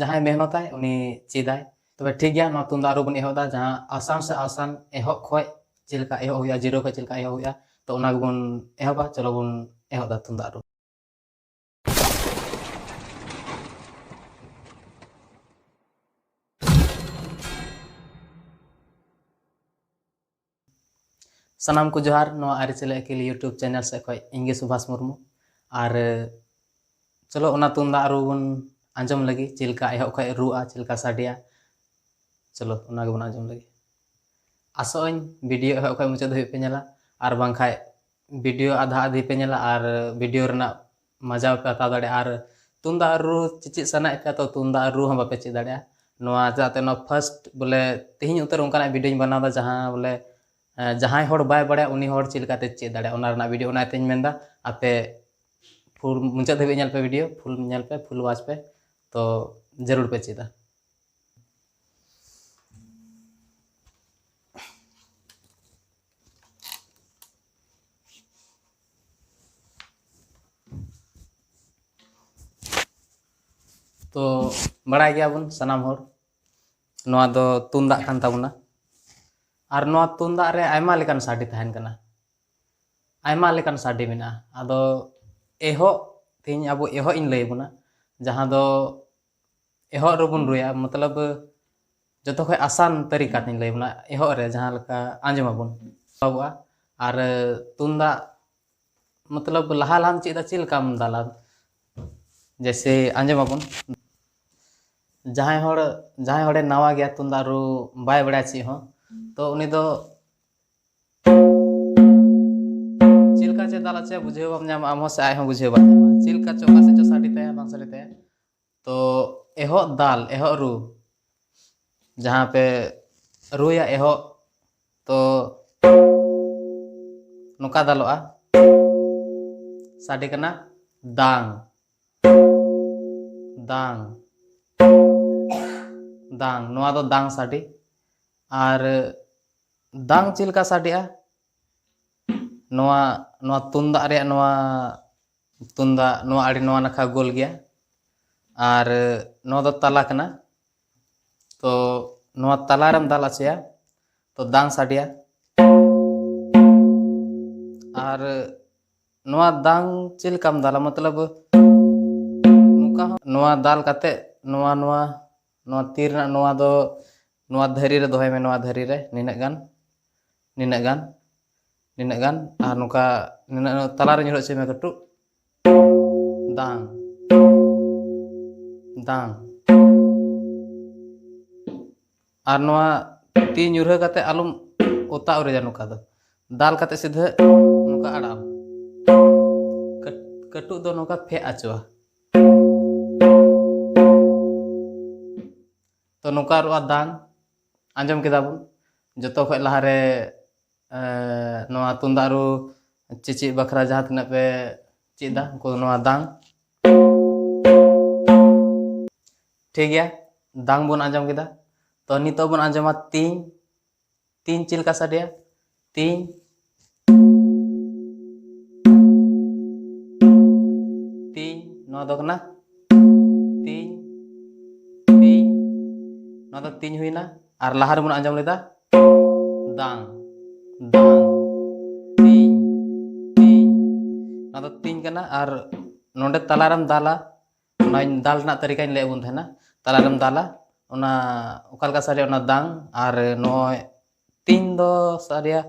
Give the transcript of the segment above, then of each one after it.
ᱡᱟᱦᱟᱸᱭ ᱢᱮᱦᱱᱚᱛᱟᱭ ᱩᱱᱤ ᱪᱮᱫᱟᱭ ᱛᱚᱵᱮ ᱴᱷᱤᱠ ᱜᱮᱭᱟ ᱱᱚᱣᱟ ᱛᱩᱢᱫᱟᱜ ᱨᱩ ᱵᱚᱱ ᱮᱦᱚᱵ ᱮᱫᱟ ᱡᱟᱦᱟᱸ ᱟᱥᱟᱱ ᱥᱮ ᱟᱥᱟᱱ ᱮᱦᱚᱵ ᱠᱷᱚᱡ ᱪᱮᱫ ᱞᱮᱠᱟ ᱮᱦᱚᱵ ᱦᱩᱭᱩᱜᱼᱟ ᱡᱤᱨᱳ ᱠᱷᱚᱡ ᱪᱮᱫ ᱞᱮᱠᱟ ᱮᱦᱚᱵ ᱦᱩᱭᱩᱜᱼᱟ ᱛᱚ ᱚᱱᱟ ᱜᱮᱵᱚᱱ ᱮᱦᱚᱵᱟ ᱪᱚᱞᱚ ᱵᱚᱱ ᱮᱦᱚᱵ ᱮᱫᱟ ᱛᱩᱢᱫᱟᱜ ᱨᱩ ᱥᱟᱱᱟᱢ ᱠᱚ ᱡᱚᱦᱟᱨ ᱱᱚᱣᱟ ᱟᱹᱨᱤᱪᱟᱹᱞᱤ ᱟᱹᱠᱤᱞ ᱤᱭᱩᱴᱩᱵᱽ ᱪᱮᱱᱮᱞ ᱥᱮᱫ ᱠᱷᱚᱱ ᱤᱧᱜᱮ ᱥᱩᱵᱷᱟᱥ ᱢᱩᱨᱢᱩ ᱟᱨ ᱪᱚᱞᱚ ᱚᱱᱟ ᱛᱩᱢᱫᱟᱜ ᱨᱩ ᱵᱚᱱ ᱟᱸᱡᱚᱢ ᱞᱟᱹᱜᱤᱫ ᱪᱮᱫ ᱞᱮᱠᱟ ᱮᱦᱚᱵ ᱠᱷᱚᱱ ᱨᱩᱜᱼᱟ ᱪᱮᱫ ᱞᱮᱠᱟ ᱥᱟᱰᱮᱭᱟ ᱪᱚᱞᱚ ᱚᱱᱟ ᱜᱮᱵᱚᱱ ᱟᱸᱡᱚᱢ ᱞᱟᱹᱜᱤᱫ ᱟᱥᱚᱜ ᱟᱹᱧ ᱵᱷᱤᱰᱤᱭᱳ ᱮᱦᱚᱵ ᱠᱷᱚᱱ ᱢᱩᱪᱟᱹᱫ ᱫᱷᱟᱹᱵᱤᱡ ᱯᱮ ᱧᱮᱞᱟ ᱟᱨ ᱵᱟᱝᱠᱷᱟᱱ ᱵᱷᱤᱰᱤᱭᱳ ᱟᱫᱷᱟ ᱟᱫᱷᱤ ᱯᱮ ᱧᱮᱞᱟ ᱟᱨ ᱵᱷᱤᱰᱤᱭᱳ ᱨᱮᱱᱟᱜ ᱢᱟᱡᱟᱣ ᱯᱮ ᱦᱟᱛᱟᱣ ᱫᱟᱲᱮᱭᱟᱜᱼᱟ ᱟᱨ ᱛᱩᱢᱫᱟᱜ ᱨᱩ ᱪᱮᱪᱮᱫ ᱥᱟᱱᱟᱭᱮᱫ ᱯᱮᱭᱟ ᱛᱚ ᱛᱩᱢᱫᱟᱜ ᱨᱩ ᱦᱚᱸ ᱵᱟᱯᱮ ᱪᱮᱫ ᱫᱟᱲᱮᱭᱟᱜᱼᱟ ᱱᱚᱣᱟ ᱪᱮᱫᱟᱜ ᱛᱮ ᱱᱚᱣᱟ ᱯᱷᱟᱥᱴ ᱵᱚᱞᱮ ᱛᱮᱦᱮᱧ ᱩᱛᱟᱹᱨ ᱚᱱᱠᱟᱱᱟᱜ ᱵᱷᱤᱰᱭᱳᱧ ᱵᱮᱱᱟᱣᱫᱟ ᱡᱟᱦᱟᱸ ᱵᱚᱞᱮ ᱡᱟᱦᱟᱸᱭ ᱦᱚᱲ ᱵᱟᱭ ᱵᱟᱲᱟᱭᱟ ᱩᱱᱤ ᱦᱚᱲ ᱪᱮᱫ ᱞᱮᱠᱟᱛᱮ ᱪᱮᱫ ᱫᱟᱲᱮᱭᱟᱜᱼᱟ ᱚᱱᱟ ᱨᱮᱱᱟᱜ ᱵᱷᱤᱰᱭᱳ ᱚᱱᱟ ᱛᱮᱧ ᱢᱮᱱᱫᱟ ᱟᱯᱮ ᱯᱷᱩᱞ ᱢᱩᱪᱟᱹᱫ ᱫᱷᱟᱹᱵᱤᱡ ᱧᱮᱞ ᱯᱮ ᱵᱷᱤᱰᱭᱳ ᱯᱷᱩᱞ ᱧᱮᱞ ᱯᱮ ᱯᱷᱩᱞ ᱣᱟᱪ ᱯᱮ ᱛᱚ ᱡᱟᱹᱨᱩᱲ ᱯᱮ ᱪᱮᱫᱟ ᱛᱚ ᱵᱟᱲᱟᱭ ᱜᱮᱭᱟᱵᱚᱱ ᱥᱟᱱᱟᱢ ᱦᱚᱲ ᱱᱚᱣᱟ ᱫᱚ ᱛᱩᱢᱫᱟᱜ ᱠᱟᱱ ᱛᱟᱵᱚᱱᱟ ᱟᱨ ᱱᱚᱣᱟ ᱛᱩᱢᱫᱟᱜ ᱨᱮ ᱟᱭᱢᱟ ᱞᱮᱠᱟᱱ ᱥᱟᱰᱮ ᱛᱟᱦᱮᱱ ᱠᱟᱱᱟ ᱟᱭᱢᱟ ᱞᱮᱠᱟᱱ ᱥᱟᱰᱮ ᱢᱮᱱᱟᱜᱼᱟ ᱟᱫᱚ ᱮᱦᱚᱵ ᱛᱮᱦᱮᱧ ᱟᱵᱚ ᱮᱦᱚᱵ ᱤᱧ ᱞᱟᱹᱭ ᱟᱵᱚᱱᱟ ᱡᱟᱦᱟᱸ ᱫᱚ ᱮᱦᱚᱵ ᱨᱮᱵᱚᱱ ᱨᱩᱭᱟ ᱢᱚᱛᱞᱚᱵ ᱡᱚᱛᱚ ᱠᱷᱚᱡ ᱟᱥᱟᱱ ᱛᱟᱹᱨᱤᱠᱟ ᱛᱤᱧ ᱞᱟᱹᱭ ᱵᱚᱱᱟ ᱮᱦᱚᱵ ᱨᱮ ᱡᱟᱦᱟᱸ ᱞᱮᱠᱟ ᱟᱸᱡᱚᱢ ᱟᱵᱚᱱ ᱮᱦᱚᱵᱚᱜᱼᱟ ᱟᱨ ᱛᱩᱢᱫᱟᱜ ᱢᱚᱛᱞᱚᱵ ᱞᱟᱦᱟ ᱞᱟᱦᱟᱢ ᱪᱮᱫᱟ ᱪᱮᱫ ᱞᱮᱠᱟᱢ ᱫᱟᱞᱟ ᱡᱮᱭᱥᱮ ᱟᱸᱡᱚᱢ ᱟᱵᱚᱱ ᱡᱟᱦᱟᱸᱭ ᱦᱚᱲ ᱡᱟᱦᱟᱸᱭ ᱦᱚᱲᱮ ᱱᱟᱣᱟ ᱜᱮᱭᱟ ᱛᱩᱢᱫᱟᱜ ᱨᱩ ᱵᱟᱭ ᱵᱟᱲᱟᱭᱟ ᱪᱮᱫ ᱦᱚᱸ ᱛᱚ ᱩᱱᱤ ᱫᱚ ᱪᱮᱫ ᱞᱮᱠᱟ ᱪᱮᱫ ᱫᱟᱞᱟ ᱪᱮᱫ ᱵᱩᱡᱷᱟᱹᱣ ᱵᱟᱢ ᱧᱟᱢᱟ ᱟᱢ ᱦᱚᱸ ᱥᱮ ᱟᱡ ᱦᱚᱸ ᱵᱩᱡᱷᱟᱹᱣ ᱵᱟᱭ ᱧᱟᱢᱟ ᱪᱮᱫ ᱞᱮᱠᱟ ᱪᱚ ᱚᱠᱟ ᱥᱮᱫ ᱪᱚ ᱥᱟᱰᱮ ᱛᱟᱭᱟ ᱵᱟᱝ ᱥᱟᱰᱮ ᱛᱟᱭᱟ ᱛᱚ ᱮᱦᱚᱜ ᱫᱟᱞ ᱮᱦᱚᱜ ᱨᱩ ᱡᱟᱦᱟᱸ ᱯᱮ ᱨᱩᱭᱟ ᱮᱦᱚᱜ ᱛᱚ ᱱᱚᱝᱠᱟ ᱫᱟᱞᱚᱜᱼᱟ ᱥᱟᱰᱮ ᱠᱟᱱᱟ ᱫᱟᱝ ᱫᱟᱝ ᱫᱟᱝ ᱱᱚᱣᱟ ᱫᱚ ᱫᱟᱝ ᱥᱟᱰᱮ ᱟᱨ ᱫᱟᱝ ᱪᱮᱫ ᱞᱮᱠᱟ ᱥᱟᱰᱮᱜᱼᱟ ᱱᱚᱣᱟ ᱱᱚᱣᱟ ᱛᱩᱢᱫᱟᱜ ᱨᱮᱭᱟᱜ ᱱᱚᱣᱟ ᱛᱩᱢᱫᱟᱜ ᱱᱚᱣᱟ ᱟᱹᱰᱤ ᱱᱚᱣᱟ ᱱᱟᱠᱷᱟ ᱜᱳᱞ ᱜᱮᱭᱟ ᱟᱨ ᱱᱚᱣᱟ ᱫᱚ ᱛᱟᱞᱟ ᱠᱟᱱᱟ ᱛᱚ ᱱᱚᱣᱟ ᱛᱟᱞᱟ ᱨᱮᱢ ᱫᱟᱞ ᱟᱪᱮᱭᱟ ᱛᱚ ᱫᱟᱝ ᱥᱟᱰᱮᱭᱟ ᱟᱨ ᱱᱚᱣᱟ ᱫᱟᱝ ᱪᱮᱫ ᱞᱮᱠᱟᱢ ᱫᱟᱞᱟ ᱢᱚᱛᱞᱚᱵ ᱱᱚᱝᱠᱟ ᱦᱚᱸ ᱱᱚᱣᱟ ᱫᱟᱞ ᱠᱟᱛᱮ ᱱᱚᱣᱟ ᱱᱚᱣᱟ ᱱᱚᱣᱟ ᱛᱤ ᱨᱮᱱᱟᱜ ᱱᱚᱣᱟ ᱫᱚ ᱱᱚᱣᱟ ᱫᱷᱟᱹᱨᱤ ᱨᱮ ᱫᱚᱦᱚᱭ ᱢᱮ ᱱᱚᱣᱟ ᱫᱷᱟᱹᱨᱤ ᱨᱮ ᱱᱤᱱᱟᱹᱜ ᱜᱟᱱ ᱱᱤᱱᱟᱹᱜ ᱜᱟᱱ ᱱᱤᱱᱟᱹᱜ ᱜᱟᱱ ᱟᱨ ᱱᱚᱝᱠᱟ ᱱᱤᱱᱟᱹᱜ ᱛᱟᱞᱟᱨᱮ ᱧᱩᱨᱦᱟᱹ ᱦᱚᱪᱚᱭ ᱢᱮ ᱠᱟᱹᱴᱩᱵ ᱫᱟᱝ ᱫᱟᱝ ᱟᱨ ᱱᱚᱣᱟ ᱛᱤ ᱧᱩᱨᱦᱟᱹ ᱠᱟᱛᱮ ᱟᱞᱚᱢ ᱚᱛᱟ ᱩᱨᱤᱡᱟ ᱱᱚᱝᱠᱟ ᱫᱚ ᱫᱟᱞ ᱠᱟᱛᱮ ᱥᱤᱫᱷᱟᱹ ᱱᱚᱝᱠᱟ ᱟᱲᱟᱜ ᱟᱢ ᱠᱟᱹᱴᱩᱵ ᱫᱚ ᱱᱚᱝᱠᱟ ᱯᱷᱮᱜ ᱦᱚᱪᱚᱜᱼᱟ ᱛᱚ ᱱᱚᱝᱠᱟ ᱨᱩ ᱟᱨ ᱫᱟᱝ ᱟᱸᱡᱚᱢ ᱠᱮᱫᱟ ᱵᱚᱱ ᱡᱚᱛᱚ ᱠᱷᱚᱡ ᱞᱟᱦᱟᱨᱮ ᱱᱚᱣᱟ ᱛᱩᱢᱫᱟᱜ ᱨᱩ ᱪᱮᱪᱮᱫ ᱵᱟᱠᱷᱨᱟ ᱡᱟᱦᱟᱸ ᱛᱤᱱᱟᱹᱜ ᱯᱮ ᱪᱮᱫ ᱮᱫᱟ ᱩᱱᱠᱩ ᱱᱚᱣᱟ ᱫᱟᱝ ᱴᱷᱤᱠ ᱜᱮᱭᱟ ᱫᱟᱝ ᱵᱚᱱ ᱟᱸᱡᱚᱢ ᱠᱮᱫᱟ ᱛᱚ ᱱᱤᱛᱚᱜ ᱵᱚᱱ ᱟᱸᱡᱚᱢᱟ ᱛᱤᱧ ᱛᱤᱧ ᱪᱮᱫ ᱞᱮᱠᱟ ᱥᱟᱰᱮᱭᱟ ᱛᱤᱧ ᱛᱤᱧ ᱱᱚᱣᱟ ᱫᱚ ᱠᱟᱱᱟ ᱛᱤᱧ ᱛᱤᱧ ᱱᱚᱣᱟ ᱫᱚ ᱛᱤᱧ ᱦᱩᱭᱱᱟ ᱟᱨ ᱞᱟᱦᱟ ᱨᱮᱵᱚᱱ ᱟᱸᱡᱚᱢ ᱞᱮᱫᱟ ᱫᱟᱝ ᱫᱟᱝ ᱛᱤᱧ ᱛᱤᱧ ᱱᱚᱣᱟ ᱫᱚ ᱛᱤᱧ ᱠᱟᱱᱟ ᱟᱨ ᱱᱚᱰᱮ ᱛᱟᱞᱟᱨᱮᱢ ᱫᱟᱞᱟ ᱚᱱᱟᱧ ᱫᱟᱞ ᱨᱮᱱᱟᱜ ᱛᱟᱹᱨᱤᱠᱟᱧ ᱞᱟᱹᱭᱟᱫ ᱵᱚᱱ ᱛᱟᱦᱮᱱᱟ ᱛᱟᱞᱟᱨᱮᱢ ᱫᱟᱞᱟ ᱚᱱᱟ ᱚᱠᱟ ᱞᱮᱠᱟ ᱥᱟᱰᱮᱭᱟ ᱚᱱᱟ ᱫᱟᱝ ᱟᱨ ᱱᱚᱜᱼᱚᱭ ᱛᱤᱧ ᱫᱚ ᱥᱟᱰᱮᱭᱟ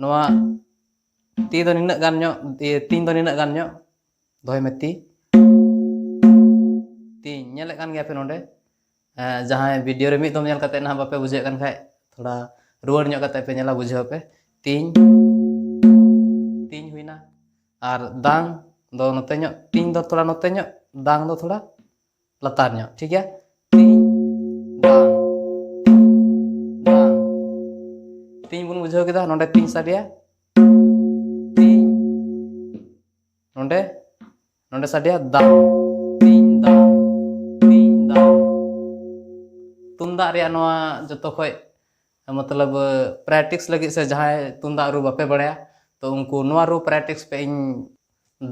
ᱱᱚᱣᱟ ᱛᱤ ᱫᱚ ᱱᱤᱱᱟᱹᱜ ᱜᱟᱱ ᱧᱚᱜ ᱛᱤᱧ ᱫᱚ ᱱᱤᱱᱟᱹᱜ ᱜᱟᱱ ᱧᱚᱜ ᱫᱚᱦᱚᱭ ᱢᱮ ᱛᱤ ᱛᱤᱧ ᱧᱮᱞᱮᱫ ᱠᱟᱱ ᱜᱮᱭᱟᱯᱮ ᱱᱚᱰᱮ ᱡᱟᱦᱟᱸᱭ ᱵᱷᱤᱰᱤᱭᱳ ᱨᱮ ᱢᱤᱫ ᱫᱚᱢ ᱧᱮᱞ ᱠᱟᱛᱮ ᱱᱟᱦᱟᱜ ᱵᱟᱯᱮ ᱵᱩᱡᱷᱟᱹᱣᱮᱫ ᱠᱟᱱ ᱠᱷᱟᱡ ᱛᱷᱚᱲᱟ ᱨᱩᱣᱟᱹᱲ ᱧᱚᱜ ᱠᱟᱛᱮ ᱯᱮ ᱧᱮᱞᱟ ᱵᱩᱡᱷᱟᱹᱣ ᱯᱮ ᱛᱤᱧ ᱛᱤᱧ ᱦᱩᱭᱱᱟ ᱟᱨ ᱫᱟᱝ ᱫᱚ ᱱᱚᱛᱮ ᱧᱚᱜ ᱛᱤᱧ ᱫᱚ ᱛᱷᱚᱲᱟ ᱱᱚᱛᱮ ᱧᱚᱜ ᱫᱟᱝ ᱫᱚ ᱛᱷᱚᱲᱟ ᱞᱟᱛᱟᱨ ᱧᱚᱜ ᱴᱷᱤᱠ ᱜᱮᱭᱟ ᱛᱤᱧ ᱫᱟᱝ ᱫᱟᱝ ᱛᱤᱧ ᱵᱚᱱ ᱵᱩᱡᱷᱟᱹᱣ ᱠᱮᱫᱟ ᱱᱚᱰᱮ ᱛᱤᱧ ᱥᱟᱰᱮᱭᱟ ᱛᱤᱧ ᱱᱚᱰᱮ ᱱᱚᱰᱮ ᱥᱟᱰᱮᱭᱟ ᱫᱟ ᱛᱤᱧ ᱫᱟ ᱛᱤᱧ ᱫᱟ ᱛᱩᱢᱫᱟᱜ ᱨᱮᱭᱟᱜ ᱱᱚᱣᱟ ᱡᱚᱛᱚ ᱠᱷᱚᱡ ᱢᱚᱛᱞᱚᱵ ᱯᱨᱮᱠᱴᱤᱥ ᱞᱟᱹᱜᱤᱫ ᱥᱮ ᱡᱟᱦᱟᱸᱭ ᱛᱩᱢᱫᱟᱜ ᱨᱩ ᱵᱟᱯᱮ ᱵᱟᱲᱟᱭᱟ ᱛᱚ ᱩᱱᱠᱩ ᱱᱚᱣᱟ ᱨᱩ ᱯᱨᱮᱠᱴᱤᱥ ᱯᱮ ᱤᱧ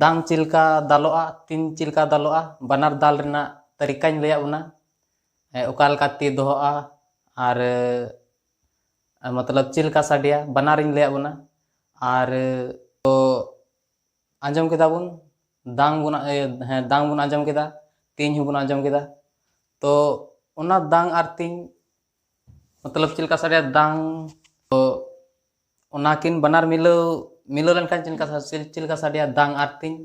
ᱫᱟᱝ ᱪᱮᱫ ᱞᱮᱠᱟ ᱫᱟᱞᱚᱜᱼᱟ ᱛᱤᱱ ᱪᱮᱫ ᱞᱮᱠᱟ ᱫᱟᱞᱚᱜᱼᱟ ᱵᱟᱱᱟᱨ ᱫᱟᱞ ᱨᱮᱱᱟᱜ ᱛᱟᱹᱨᱤᱠᱟᱧ ᱞᱟᱹᱭᱟᱫ ᱵᱚᱱᱟ ᱚᱠᱟ ᱞᱮᱠᱟ ᱛᱤ ᱫᱚᱦᱚᱜᱼᱟ ᱟᱨ ᱢᱚᱛᱞᱚᱵ ᱪᱮᱫ ᱞᱮᱠᱟ ᱥᱟᱰᱮᱭᱟ ᱵᱟᱱᱟᱨᱤᱧ ᱞᱟᱹᱭᱟᱫ ᱵᱚᱱᱟ ᱟᱨ ᱛᱚ ᱟᱸᱡᱚᱢ ᱠᱮᱫᱟ ᱵᱚᱱ ᱫᱟᱝ ᱵᱚᱱ ᱦᱮᱸ ᱫᱟᱝ ᱵᱚᱱ ᱟᱸᱡᱚᱢ ᱠᱮᱫᱟ ᱛᱤᱧ ᱦᱚᱸᱵᱚᱱ ᱟᱸᱡᱚᱢ ᱠᱮᱫᱟ ᱛᱚ ᱚᱱᱟ ᱫᱟᱝ ᱟᱨ ᱛᱤᱧ ᱢᱚᱛᱞᱚᱵ ᱪᱮᱫ ᱞᱮᱠᱟ ᱥᱟᱰᱮᱭᱟ ᱫᱟᱝ ᱛᱚ ᱚᱱᱟᱠᱤᱱ ᱵᱟᱱᱟᱨ ᱢᱤᱞᱟᱹᱣ ᱢᱤᱞᱟᱹᱣ ᱞᱮᱱᱠᱷᱟᱱ ᱪᱮᱫ ᱞᱮᱠᱟ ᱪᱮᱫ ᱞᱮᱠᱟ ᱥᱟᱰᱮᱭᱟ ᱫᱟᱝ ᱟᱨ ᱛᱤᱧ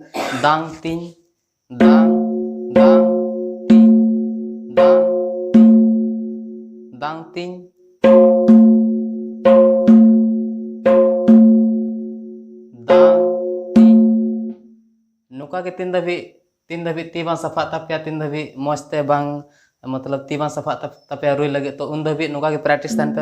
ᱫᱟᱝ ᱛᱤᱧ ᱱᱚᱝᱠᱟ ᱜᱮ ᱛᱤᱱ ᱫᱷᱟᱹᱵᱤᱡ ᱛᱤᱱ ᱫᱷᱟᱹᱵᱤᱡ ᱛᱤ ᱵᱟᱝ ᱥᱟᱯᱷᱟᱜ ᱛᱟᱯᱮᱭᱟ ᱛᱤᱱ ᱫᱷᱟᱹᱵᱤᱡ ᱢᱚᱡᱽ ᱛᱮ ᱵᱟᱝ ᱢᱚᱛᱞᱚᱵ ᱛᱤ ᱵᱟᱝ ᱥᱟᱯᱷᱟᱜ ᱛᱟᱯᱮᱭᱟ ᱨᱩᱭ ᱞᱟᱹᱜᱤᱫ ᱛᱚ ᱩᱱ ᱫᱷᱟᱹᱵᱤᱡ ᱱᱚᱝᱠᱟ ᱜᱮ ᱯᱨᱮᱠᱴᱤᱥ ᱛᱟᱦᱮᱱ ᱯᱮ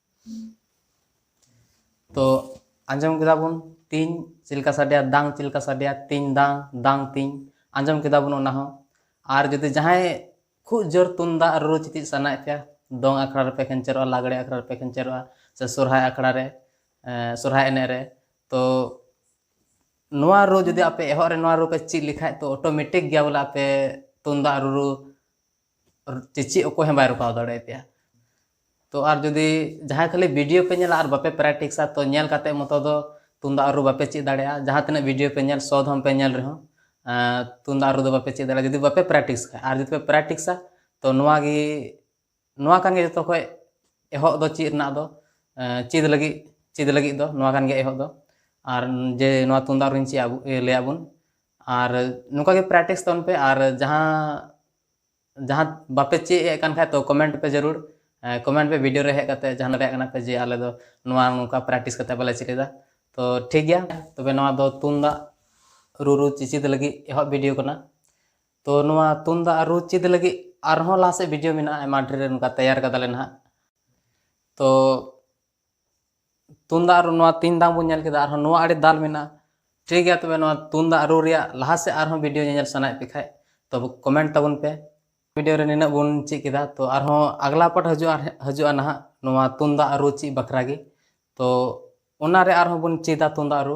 ᱛᱚ ᱟᱸᱡᱚᱢ ᱠᱮᱫᱟ ᱵᱚᱱ ᱛᱤᱧ ᱪᱮᱫ ᱞᱮᱠᱟ ᱥᱟᱰᱮᱭᱟ ᱫᱟᱝ ᱪᱮᱫ ᱞᱮᱠᱟ ᱥᱟᱰᱮᱭᱟ ᱛᱤᱧ ᱫᱟᱝ ᱫᱟᱝ ᱛᱤᱧ ᱟᱸᱡᱚᱢ ᱠᱮᱫᱟ ᱵᱚᱱ ᱚᱱᱟ ᱦᱚᱸ ᱟᱨ ᱡᱩᱫᱤ ᱡᱟᱦᱟᱸᱭ ᱠᱷᱩᱵ ᱡᱳᱨ ᱛᱩᱢᱫᱟᱜ ᱨᱩ ᱪᱮᱫ ᱥᱟᱱᱟᱭᱮᱫ ᱯᱮᱭᱟ ᱫᱚᱝ ᱟᱠᱷᱲᱟ ᱨᱮᱯᱮ ᱠᱷᱮᱧᱪᱮᱨᱚᱜᱼᱟ ᱞᱟᱜᱽᱲᱮ ᱟᱠᱷᱲᱟ ᱨᱮᱯᱮ ᱠᱷᱮᱧᱪᱮᱨᱚᱜᱼᱟ ᱥᱮ ᱥᱚᱨᱦᱟᱭ ᱟᱠᱷᱲᱟ ᱨᱮ ᱥᱚᱨᱦᱟᱭ ᱮᱱᱮᱡ ᱨᱮ ᱛᱚ ᱱᱚᱣᱟ ᱨᱩ ᱡᱩᱫᱤ ᱟᱯᱮ ᱮᱦᱚᱵ ᱨᱮ ᱱᱚᱣᱟ ᱨᱩ ᱯᱮ ᱪᱮᱫ ᱞᱮᱠᱷᱟᱡ ᱛᱚ ᱚᱴᱳᱢᱮᱴᱤᱠ ᱜᱮ ᱵᱚᱞᱮ ᱟᱯᱮ ᱛᱩᱢᱫᱟᱜ ᱨᱩᱨᱩ ᱪᱮ ᱪᱮᱫ ᱚᱠᱚᱭ ᱦᱚᱸ ᱵᱟᱭ ᱨᱚᱠᱟᱣ ᱫᱟᱲᱮᱭᱟᱯᱮᱭᱟ ᱛᱚ ᱟᱨ ᱡᱩᱫᱤ ᱡᱟᱦᱟᱸᱭ ᱠᱷᱟᱹᱞᱤ ᱵᱷᱤᱰᱤᱭᱳ ᱯᱮ ᱧᱮᱞᱟ ᱟᱨ ᱵᱟᱯᱮ ᱯᱨᱮᱠᱴᱤᱥᱟ ᱛᱚ ᱧᱮᱞ ᱠᱟᱛᱮ ᱢᱚᱛᱚ ᱫᱚ ᱛᱩᱢᱫᱟᱜ ᱨᱩ ᱵᱟᱯᱮ ᱪᱮᱫ ᱫᱟᱲᱮᱭᱟᱜᱼᱟ ᱡᱟᱦᱟᱸ ᱛᱤᱱᱟᱹᱜ ᱵᱷᱤᱰᱤᱭᱳ ᱯᱮ ᱧᱮᱞ ᱥᱚ ᱫᱷᱚᱢ ᱯᱮ ᱧᱮᱞ ᱨᱮᱦᱚᱸ ᱛᱩᱢᱫᱟᱜ ᱨᱩ ᱫᱚ ᱵᱟᱯᱮ ᱪᱮᱫ ᱫᱟᱲᱮᱭᱟᱜᱼᱟ ᱡᱩᱫᱤ ᱵᱟᱯᱮ ᱯᱨᱮᱠᱴᱤᱥ ᱠᱷᱟᱡ ᱟᱨ ᱡᱩᱫᱤ ᱯᱮ ᱯᱨᱮᱠᱴᱤᱥᱟ ᱛᱚ ᱱᱚᱣᱟ ᱜᱮ ᱱᱚᱣᱟ ᱠᱟᱱ ᱜᱮ ᱡᱚᱛᱚ ᱠᱷᱚᱡ ᱮᱦᱚᱵ ᱫᱚ ᱪᱮᱫ ᱨᱮᱱᱟᱜ ᱫᱚ ᱪᱮᱫ ᱞᱟᱹᱜᱤᱫ ᱪᱮᱫ ᱞᱟᱹᱜᱤᱫ ᱫᱚ ᱱᱚᱣᱟ ᱠᱟᱱ ᱜᱮᱭᱟ ᱮᱦᱚᱵ ᱫᱚ ᱟᱨ ᱡᱮ ᱱᱚᱣᱟ ᱛᱩᱢᱫᱟᱜ ᱨᱩᱧ ᱪᱮᱫ ᱞᱟᱹᱭᱟᱫ ᱵᱚᱱ ᱟᱨ ᱱᱚᱝᱠᱟ ᱜᱮ ᱯᱨᱮᱠᱴᱤᱥ ᱛᱟᱵᱚᱱ ᱯᱮ ᱟᱨ ᱡᱟᱦᱟᱸ ᱡᱟᱦᱟᱸ ᱵᱟᱯᱮ ᱪᱮᱫ ᱮᱫ ᱠᱟᱱ ᱠᱷᱟᱡ ᱛᱚ ᱠᱚᱢᱮᱱᱴ ᱯᱮ ᱡᱟᱹᱨᱩᱲ ᱠᱚᱢᱮᱱᱴ ᱯᱮ ᱵᱷᱤᱰᱤᱭᱳ ᱨᱮ ᱦᱮᱡ ᱠᱟᱛᱮ ᱡᱟᱦᱟᱸ ᱨᱮᱭᱟᱜ ᱠᱟᱱᱟ ᱯᱮ ᱡᱮ ᱟᱞᱮ ᱫᱚ ᱱᱚᱣᱟ ᱱᱚᱝᱠᱟ ᱯᱨᱮᱠᱴᱤᱥ ᱠᱟᱛᱮ ᱵᱟᱞᱮ ᱪᱮᱫ ᱮᱫᱟ ᱛᱚ ᱴᱷᱤᱠ ᱜᱮᱭᱟ ᱛᱚᱵᱮ ᱱᱚᱣᱟ ᱫᱚ ᱛᱩᱢᱫᱟᱜ ᱨᱩ ᱨᱩ ᱪᱮᱪᱮᱫ ᱞᱟᱹᱜᱤᱫ ᱮᱦᱚᱵ ᱵᱷᱤᱰᱤᱭᱳ ᱠᱟᱱᱟ ᱛᱚ ᱱᱚᱣᱟ ᱛᱩᱢᱫᱟᱜ ᱨᱩ ᱪᱮᱫ ᱞᱟᱹᱜᱤᱫ ᱟᱨᱦᱚᱸ ᱞᱟᱦᱟ ᱥᱮᱫ ᱵᱷᱤᱰᱤᱭᱳ ᱢᱮᱱᱟᱜᱼᱟ ᱟᱭᱢᱟ ᱰᱷᱮᱨ ᱱᱚᱝᱠᱟ ᱛᱮᱭᱟᱨ ᱠᱟᱫᱟᱞᱮ ᱱᱟᱦᱟᱜ ᱛᱚ ᱛᱩᱢᱫᱟᱜ ᱨᱩ ᱱᱚᱣᱟ ᱛᱤᱱ ᱫᱟᱢ ᱵᱚᱱ ᱧᱮᱞ ᱠᱮᱫᱟ ᱟᱨᱦᱚᱸ ᱱᱚᱣᱟ ᱟᱹᱰᱤ ᱫᱟᱞ ᱢᱮᱱᱟᱜᱼᱟ ᱴᱷᱤᱠ ᱜᱮᱭᱟ ᱛᱚᱵᱮ ᱱᱚᱣᱟ ᱛᱩᱢᱫᱟᱜ ᱨᱩ ᱨᱮᱭᱟᱜ ᱞᱟᱦᱟ ᱥᱮᱫ ᱟᱨᱦᱚᱸ ᱵᱷᱤᱰᱤᱭᱳ ᱧᱮᱧᱮᱞ ᱥᱟᱱᱟᱭᱮᱫ ᱯᱮ ᱠᱷᱟᱡ ᱛᱚᱵᱮ ᱠᱚᱢᱮᱱᱴ ᱛᱟᱵᱚᱱ ᱯᱮ ᱵᱷᱤᱰᱤᱭᱳ ᱨᱮ ᱱᱤᱱᱟᱹᱜ ᱵᱚᱱ ᱪᱮᱫ ᱠᱮᱫᱟ ᱛᱚ ᱟᱨᱦᱚᱸ ᱟᱜᱽᱞᱟ ᱯᱟᱴ ᱦᱤᱡᱩᱜᱼᱟ ᱦᱤᱡᱩᱜᱼᱟ ᱱᱟᱦᱟᱜ ᱱᱚᱣᱟ ᱛᱩᱢᱫᱟᱜ ᱨᱩ ᱪᱮᱫ ᱵᱟᱠᱷᱨᱟ ᱜᱮ ᱛᱚ ᱚᱱᱟᱨᱮ ᱟᱨᱦᱚᱸ ᱵᱚᱱ ᱪᱮᱫᱟ ᱛᱩᱢᱫᱟᱜ ᱨᱩ